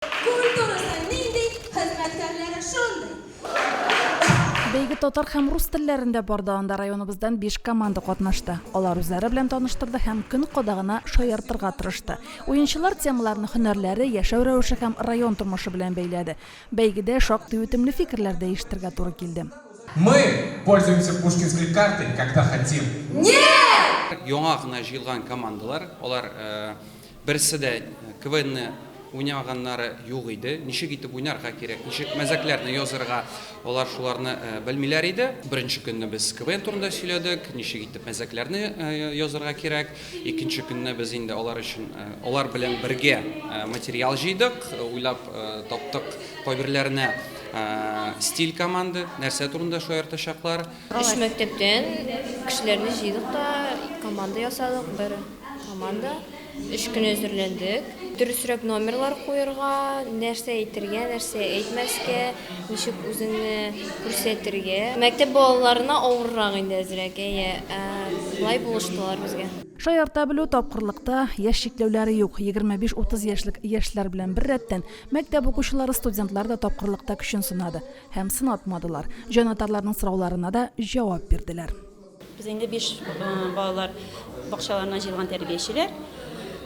Культурасы нинди, хезмәткәрләре шундый. Бәйге татар һәм рус телләрендә барды, анда районыбыздан биш команда катнашты. Алар үзләре белән таныштырды һәм көн кадагына шаяртырга тырышты. Уенчылар темаларны һөнәрләре, яшәү рәвеше һәм район тормышы белән бәйләде. Бәйгедә шактый үтемле фикерләр дәештергә туры килде. Мы пользуемся пушкинской картой, когда хотим. Нет! Яңа гына җыелган командалар, алар Берсе дә КВНны уйнамаганнары юк иде. Ничек итеп уйнарга кирәк, ничек мәзәкләрне язырга, алар шуларны белмиләр иде. Беренче көнне без КВН турында сөйләдек, ничек итеп мәзәкләрне язырга кирәк. Икенче көнне без инде алар өчен, алар белән бергә материал җыйдык, уйлап таптык кайберләренә стиль команды, нәрсә турында шаяртачаклар. Өч мәктәптән кешеләрне җыйдык та команда ясадык, бер. Команда өч көн әзерләндек. Дөресрәк номерлар куерга, нәрсә әйтергә, нәрсә әйтмәскә, ничек үзеңне күрсәтергә. Мәктәп балаларына авыррак инде әзрәк, әйе. Ә болай булыштылар безгә. Шаярта белү, тапкырлыкта яшь чикләүләре юк. Егерме биш-утыз яшьлек яшьләр белән беррәттән, мәктәп укучылары, студентлар да тапкырлыкта көчен сынады. Һәм сынатмадылар. Җанатарларның сорауларына да җавап бирделәр. Без инде биш балалар бакчаларыннан җыелган тәрбиячеләр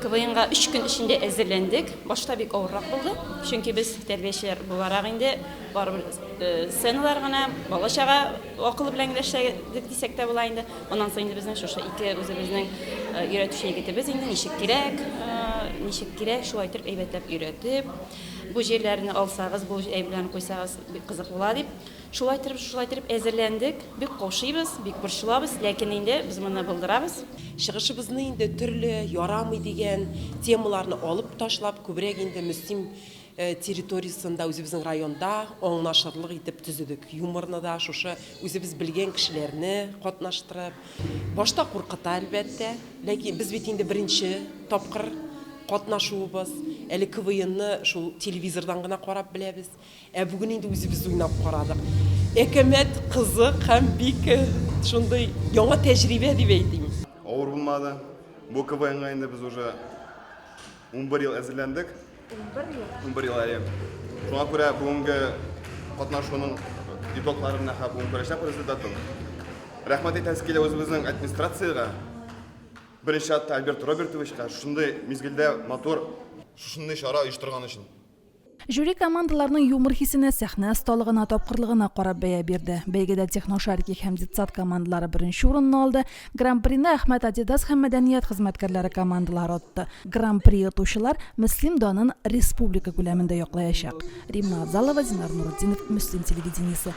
КВНга өч көн эчендә әзерләндек. Башта бик авыррак булды, чөнки без тәрбиячеләр буларак инде барыбер э, сценалар гына, бала чага акылы белән генә эшләдек дисәк тә була инде. Аннан соң инде безнең шушы ике үзебезнең э, өйрәтүче егетебез инде ничек кирәк, э, ничек кирәк, шулай итеп әйбәтләп өйрәтеп, бу җирләрне алсагыз, бу җәй белән куйсагыз бик кызык була дип, Шулай итеп, шулай итеп әзерләндек. Бик каушыйбыз, бик борчылабыз, ләкин инде без моны булдырабыз. Чыгышыбызны инде төрле ярамый дигән темаларны алып ташлап, күбрәк инде Мөслим территориясендә, үзебезнең районда аңлашырлык итеп төзедек. Юморны да шушы үзебез белгән кешеләрне катнаштырып. Башта куркыта, әлбәттә. Ләкин без бит инде беренче тапкыр катнашуыбыз. Әле КВНны шул телевизордан гына карап беләбез. Ә бүген инде үзебез уйнап карадык. Әкәмәт, кызык һәм бик шундый яңа тәҗрибә дип әйтим. Авыр булмады. Бу КВНга инде без уже унбер ел әзерләндек. Унбер ел? Унбер ел, әйе. Шуңа күрә бүгенге катнашуның итогларын менә хәзер бүген күрәчәкбез результатын. Рәхмәт әйтәсе килә үзебезнең администрациягә, беренче чиратта Альберт Робертовичка шундый мизгелдә матур шушындый чара оештырган өчен. Жюри командаларның юмор хисенә, сәхнә осталыгына, тапкырлыгына карап бәя бирде. Бәйгедә техношарики һәм детсад командалары беренче урынны алды. Гран-прины Әхмәт Адидас һәм мәдәният хезмәткәрләре командалары отты. Гран-при отучылар Мөслим данын республика күләмендә яклаячак. Римма Авзалова, Зинар Нуретдинов, Мөслим телевидениесе.